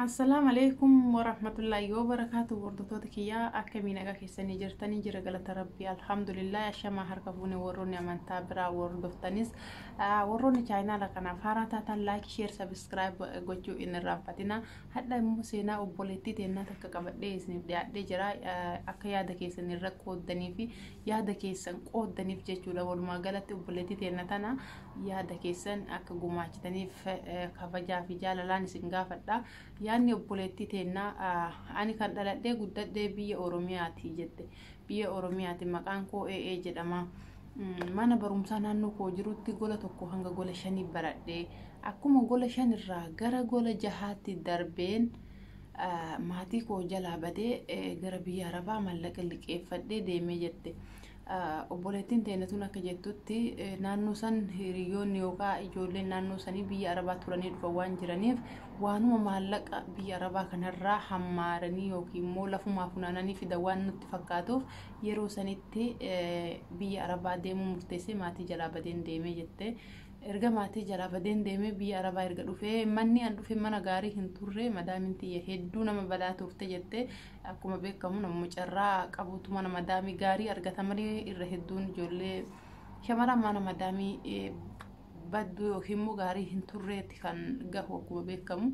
Assalaamu alaikum warahmatullaahi wabarakaatu hordoftoota kiyyaa akkamii nagaa keessanii jirtanii jira galata rabbii alhamdulillah ashamaa harka fuune warroonni amantaa biraa hordoftanis warroonni chaayinaala kanaaf haaraa taataan laayik sheer sabiskiraayib gochuu hin irraanfatina hadha immoo seenaa obboleettii teennaa takka qabadhee isiniif dhiyaadhee jira akka yaada keessanii irra qooddanii fi yaada keessan qooddaniif jechuudha walumaa galatti obboleettii teenna tana yaada keessan akka gumaachitaniif kabajaa fi jaalalaan isin gaafadha yaadni obboleettii teenna ani kan dhaladhee guddadhee biyya oromiyaati jette biyya oromiyaati maqaan koo ee jedhama mana barumsaa naannoo koo jirutti gola tokko hanga gola shanii baradhee akkuma gola shanirraa gara gola jahaatti darbeen Maatii koo jalaa badee gara biyya Arabaa mallaqa liqeeffadhee deemee jette. Obboleettiin teenya tun akka jettutti naannoo san hiriyoonni yookaan ijoolleen naannoo sanii biyya Arabaa turanii dhufan waan jiraniif waanuma maallaqa biyya Arabaa kanarraa hammaaranii yookiin immoo lafumaa funaananii fida waan nutti fakkaatuuf yeroo sanitti biyya Arabaa deemuu murteessee maatii jalaa badeen deemee jette. Erga maatii jalaa badeen deemee biyya Arabaa erga dhufee manni an dhufe mana gaarii hin turre madaamin tiyya hedduu nama balaa turte jette akkuma beekamu namuma carraa qabuutu mana madaamii gaarii argata malee irra hedduun ijoollee shamaraan mana madaamii eh, badduu yookiin immoo gaarii hin turreetti kan gahu akkuma beekamu.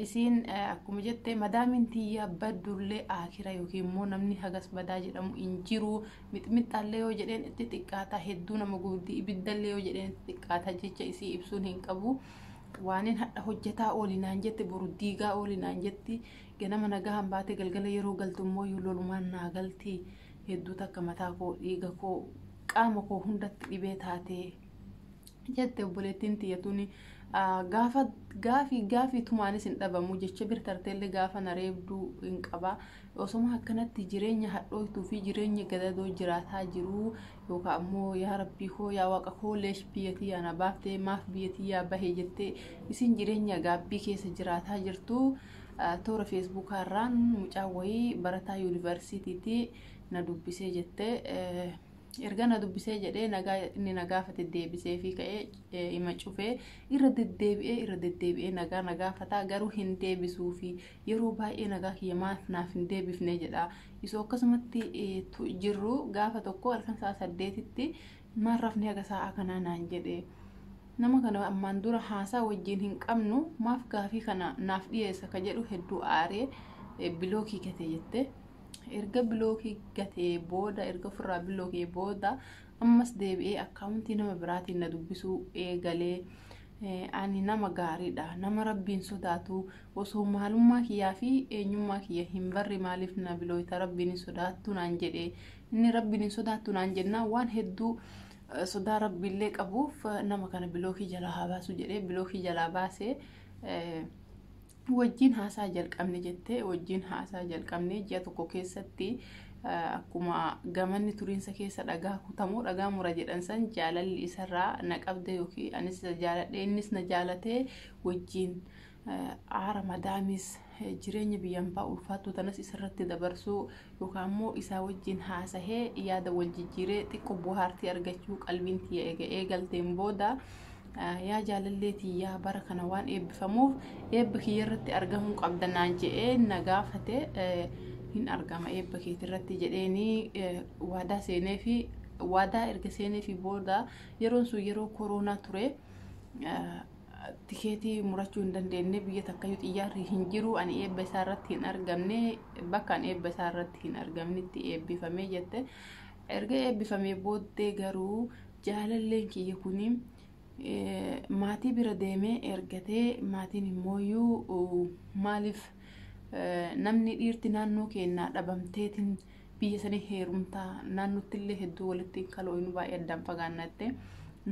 Isiin eh, akkuma jette madaamiin tiyya baddullee akira yookiin immoo namni hagas badaa jedhamu hin jiru Mixmixxaallee yoo jedheen itti xiqqaata hedduu nama gubdi ibiddallee yoo jedheen itti xiqqaata jecha isii ibsuun hin qabu. Waanin hadha hojjetaa ooli naan jetti boru diigaa ooli naan jetti ganama nagahan baate galgala yeroo galtu immoo yoo lolumaan naa galti hedduu takka mataa koo dhiiga koo qaama koo hundatti dhibee taatee jette obboleettiin tiyya tuni gaafa gaafii gaafii tumaanis hin dhabamu jecha bir tarteellee gaafa na reebduu hin qaba osoma akkanatti jireenya hadhooytuu fi jireenya gadadoo jiraataa jiruu yookaan ammoo yaa rabbii koo yaa waaqa koo leesh biyya tiyyaa na baaftee maaf biyya tiyyaa bahee jettee isin jireenya gaabbii keessa jiraataa jirtu toora feesbuukaa irraan mucaa wayii barataa yuunivarsiitiitii na dubbisee jettee erga na dubbisee jedhee nagaa inni na gaafate deebisee fi ka'ee ima cufee irra deddeebi'ee irra deddeebi'ee nagaa na gaafataa garuu hin deebisuu fi yeroo baay'ee nagaa kiyya maaf naaf hin deebifne jedha isoo akkasumatti jirru gaafa tokko halkan sa'a saddeetitti maal rafni haga sa'a kanaa naan jedhe nama kana ammaan dura haasaa wajjin hin qabnu maaf gaafii kana naaf dhiyeessa ka jedhu hedduu aaree bilookii kate jette. erga bilookii gatee booda erga ofirraa bilookee booda ammas deebi'ee akkaawuntii nama biraatiin na dubbisuu eegalee ani nama gaariidha nama rabbiin sodaatu osoo maalummaa kiyyaa fi eenyummaa kiyya hin barre maaliif na bilooyta rabbiin hin sodaattu naan jedhe inni rabbiin hin sodaattu naan jennaa waan hedduu sodaa rabbiillee qabuuf nama kana bilookii jalaa haa baasu jedhee bilookii jalaa baasee wajjin haasaa jalqabne jette wajjin haasaa jalqabne ji'a tokko keessatti akkuma gamanni turiinsa keessa dhagaa kutamoo dhagaa mura jedhan san jaalalli isarraa na qabde yookiin anis isa jaaladhe innis na jaalatee wajjin aara madaamis jireenya biyyan baa ulfaattuu tanas isarratti dabarsuu yookaan immoo isaa wajjin haasahee yaada wal jijjiiree xiqqoo buhaartii argachuu qalbiin tiyya eega eegalteen booda Yaa jaalallee tiyyaa bara kana waan eebbifamuuf eebba kiyya irratti argamuu qabda naan je'ee na gaafate hin argama eebba keeti irratti jedheeni waadaa seenee fi waadaa erga seenee fi booda yeroon sun yeroo koroonaa ture tikeetii murachuu hin dandeenye biyya takkayyuu xiyyaarri hin jiru ani eebba isaa irratti hin argamne bakka ani eebba isaa irratti hin argamnetti eebbifamee jette erga eebbifamee booddee garuu jaalalleen kiyya kun maatii bira deemee ergatee maatiin immooyyuu maaliif namni dhiirti naannoo keennaa dhabamteetiin biyya sanii heerumtaa naannootti illee hedduu walitti hin kalooynu baay'ee addaan fagaanna jettee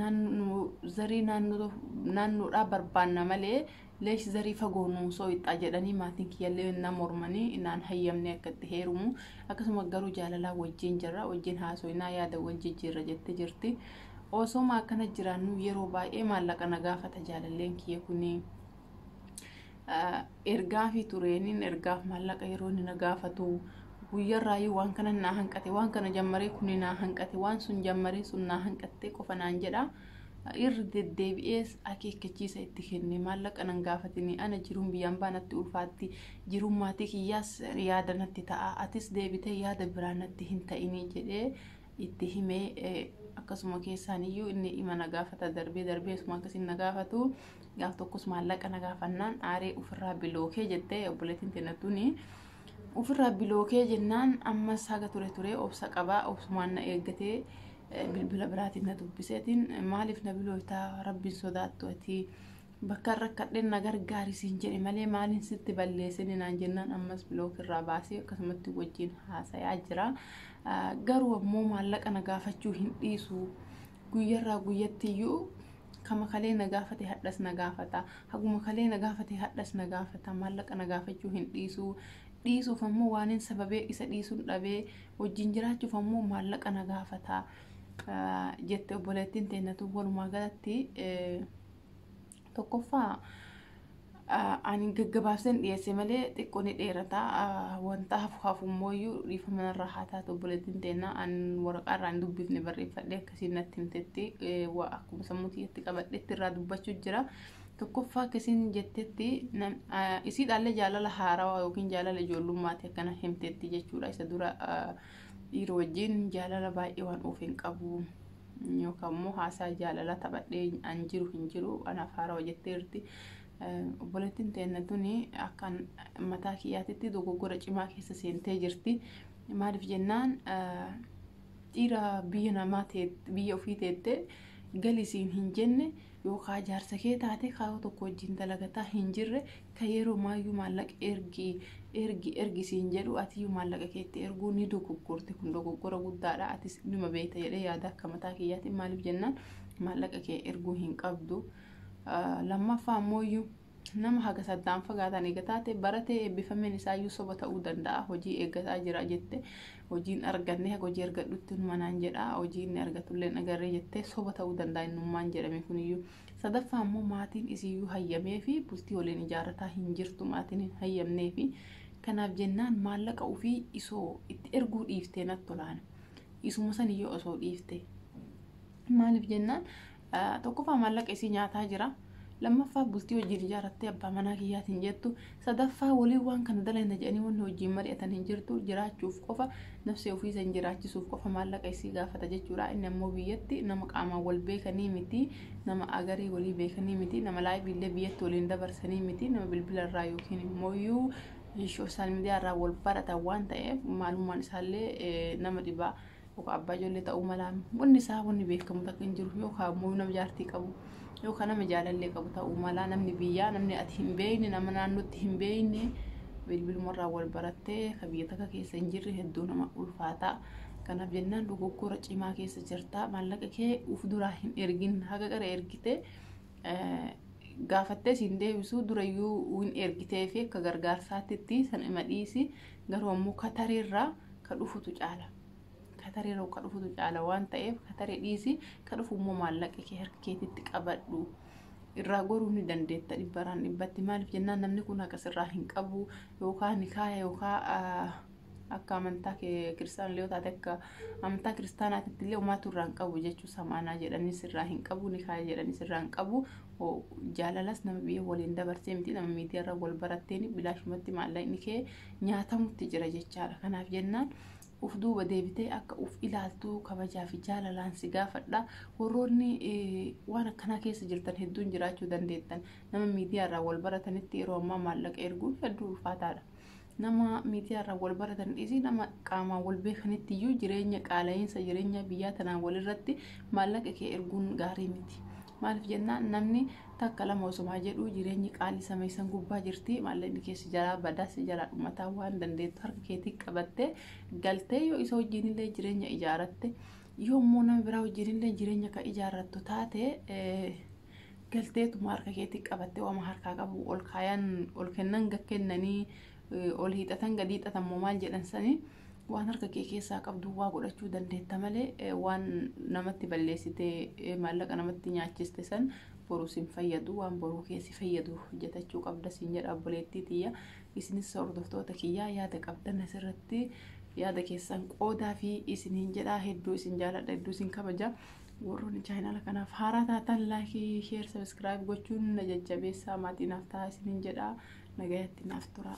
naannoo zarii naannoodhaa barbaanna malee leesh zarii fagoo nuu sooyxaa jedhanii maatiin kiyyallee na mormanii naan hayyamnee akka itti heerumu akkasuma garuu jaalalaa wajjin jirra wajjin haasoinaa yaada wal jijjiirra jette jirti osooma akkana jiraannuu yeroo baay'ee maallaqa na gaafata jaalalleen kiyya kuni ergaa fi tureeniin ergaaf maallaqa yeroo inni na gaafatu guyyarraayyuu waan kana naa hanqate waan kana jammaree kuni naa hanqate waan sun jammaree sun naa hanqattee qofa naan jedha. Irra deddeebi'ees akeekkachiisa itti kenne. Maallaqa nan gaafatini. Ana jiruun biyya ambaa natti ulfaatti. Jiruun maatii kiyyaas yaada natti ta'a. Atis deebitee yaada biraa natti hin ta'ini jedhee itti hime. Akkasuma keessaan iyyuu inni ima na gaafata darbee darbee isuma akkasiin na gaafatu. Gaaf tokkos maallaqa na gaafannaan aaree ofirraa bilookee jette obboleettiin teenna tuni. Ofirraa bilookee jennaan ammas haga ture ture obsa qabaa obsumaan na eeggatee bilbila biraatiin na dubbiseetiin maaliif na bilooytaa rabbiin sodaattu ati bakka rakkadheen na gargaari siin jedhe malee maaliin sitti balleessine naan jennaan ammas bilook irraa baasee akkasumatti wajjin haasayaa jira garuu ammoo maallaqa na gaafachuu hin dhiisu Guyyarraa guyyattiyyuu kama kalee na gaafate hadhas na gaafata. Haguma kalee na gaafate hadhas na gaafata. Maallaqa na gaafachuu hin dhiisu. Dhiisuuf ammoo waanin sababee isa dhiisun dhabee wajjin jiraachuuf ammoo maallaqa na gaafata. Jette obboleettiin teenna tun walumaa galatti Tokkoffaa ani gaggabaabseen dhiyeesse malee xiqqoo ni dheerata wanta hafu hafu immoo iyyuu dhiifama narraa haa taatu obboleettiin teennaa an waraqaa irraa hin dubbifne barreeffadhe akkasiin natti himtetti waa akkuma sammuu tiyyatti qabadhetti irraa dubbachuu jira. Tokkoffaa akkasiin jettetti isiidhaallee jaalala haarawaa yookiin jaalala ijoollummaati akkana himtetti jechuudha isa dura dhiira wajjin jaalala baay'ee waan oofeen qabu. yookaan immoo haasaa jaalalaa taphadhee an jiru hin jiru anaaf haarawa jetteerti. Obboleettiin teenna tuni akkan mataa kiyyaatitti dogoggora cimaa keessa seentee jirti. Maaliif jennaan dhiira biyya namaa biyya ofii teettee galisiin hin jenne Yoo kaa jaarsa kee taate kaa yoo tokko wajjin dalagataa hin jirre ka yeroo maayyuu maallaqa ergi ergi ergi siin jedhu atiyyuu maallaqa keetti erguu ni dogoggorte kun dogoggora guddaadha atis nima beekta jedhee yaada akka mataa kiyyaatiin maaliif jennaan maallaqa kee erguu hin qabdu lammaffaa ammooyyuu Nama haga saddaan fagaatan eega taate baratee eebbifameen isaayyuu soba ta'uu danda'a. Hojii eeggataa jira jette hojii hin arganne haga hojii argadhutti inuma naan jedha hojii inni argatullee hin agarre jettee soba ta'uu danda'a innummaan jedhame kuniyyuu. Sadaffaa ammoo maatiin isiyyuu hayyameefi bultii waliin ijaarrataa hin jirtu maatiin hin hayyamneefi kanaaf jennaan maallaqa ufii isoo itti erguu dhiiftee natti olaana isuma saniyyuu osoo dhiifte maaliif jennaan Tokkoffaa maallaqa isii nyaataa jira. Lammaffaa bultii wajjin ijaarattee abbaa manaa kiyyaati hin jettu. Sadaffaa waliin waan kana dalayna jedhanii wanni wajjin mari'atan hin jirtu. Jiraachuuf qofa nafsee ofii san jiraachisuuf qofa maallaqa isii gaafata jechuudha. Inni ammoo biyyatti nama qaamaan wal beekanii miti, nama agarii walii beekanii miti, nama live illee biyyatti waliin dabarsanii miti, nama bilbila irraa yookiin immooyyuu social media irraa wal baratan waan ta'eef maalummaan isaallee nama dhibaa. yookaan abbaa ijoollee ta'uu mala wanni isaa wanni beekamu takka hin jiru yookaan immoo nama jaartii qabu yookaan nama jaalallee qabu ta'uu mala namni biyyaa namni ati hin beekne nama naannootti hin beekne bilbilumarraa wal barattee ka biyya takka keessa hin jirre hedduu nama ulfaataa kanaaf jennaan dogoggora cimaa keessa jirta maallaqa kee uf duraa hin ergin haga qara ergite gaafattee siin deebisuu durayyuu hin ergitee fi akka gargaarsaatti itti san ima dhiisi garuu ammoo Katari irraa ka dhufutu caala. Katari irraa ka dhufutu caala waan ta'eef Katari dhiisi ka dhufu immoo maallaqa kee harka keetitti qabadhu. Irraa goruu ni dandeetta dhibbaraan dhibbatti maaliif jennaan namni kun haqa sirraa hin qabu yookaa nikaaya yookaa akka amantaa kee kiristaan illee taate akka amantaa kiristaanaatitti illee umaatu irraa hin qabu jechuu samaanaa jedhanii sirraa hin qabu nikaaya jedhanii sirraa hin qabu Jaalalas nama biyya waliin dabarsee miti nama miidiyaarra wal baratteen bilaashumatti maallaqni kee nyaatamutti jira jechaadha. Kanaaf jennaan uf duuba deebitee akka uf ilaaltuu kabajaa fi jaalalaan si gaafadha. Warroonni waan akkanaa keessa jirtan hedduun jiraachuu dandeettan. Nama miidiyaarraa wal baratanitti yeroo ammaa maallaqa erguun hedduu ulfaataadha. Nama miidiyaarraa wal baratan dhiisii nama qaamaan wal beekanitti iyyuu jireenya qaala'iinsa jireenyaa biyyaa tanaa walirratti maallaqa kee erguun gaarii miti. Maaliif jennaan namni takka lama osomaa jedhuu jireenyi qaalii samii san gubbaa jirti maallaqni kee si jalaa badaa si jalaa dhumataa waan dandeettu harka keetii qabattee galtee yoo isa wajjiinillee jireenya ijaaratte yoo immoo nama biraa wajjiinillee jireenya kan ijaarrattu taate galteetuma harka keetii qabattee wama harkaa qabu ol kaayan ol kennan gad kennanii eh, ol hiixatan gad hiixatan moo maal jedhan sanii waan harka kee keessaa qabdu waa godhachuu dandeetta malee eh, waan namatti balleessite eh, maallaqa namatti nyaachiste san boruu sin fayyadu waan boruu kee si fayyadu hojjetachuu qabda siin jedha obboleettii tiyya isinis hordoftoota kiyyaa yaada qabdan asirratti yaada keessan qoodaa fi isiniin jedha hedduu isin jaaladha hedduu isin kabaja Warroonni chaayinaala kanaaf haaraa taatan laayikii, sheer, sabiskiraayib gochuun na jajjabeessaa maatii naaf ta'a isiniin jedha. Nagayatti naaf turaa.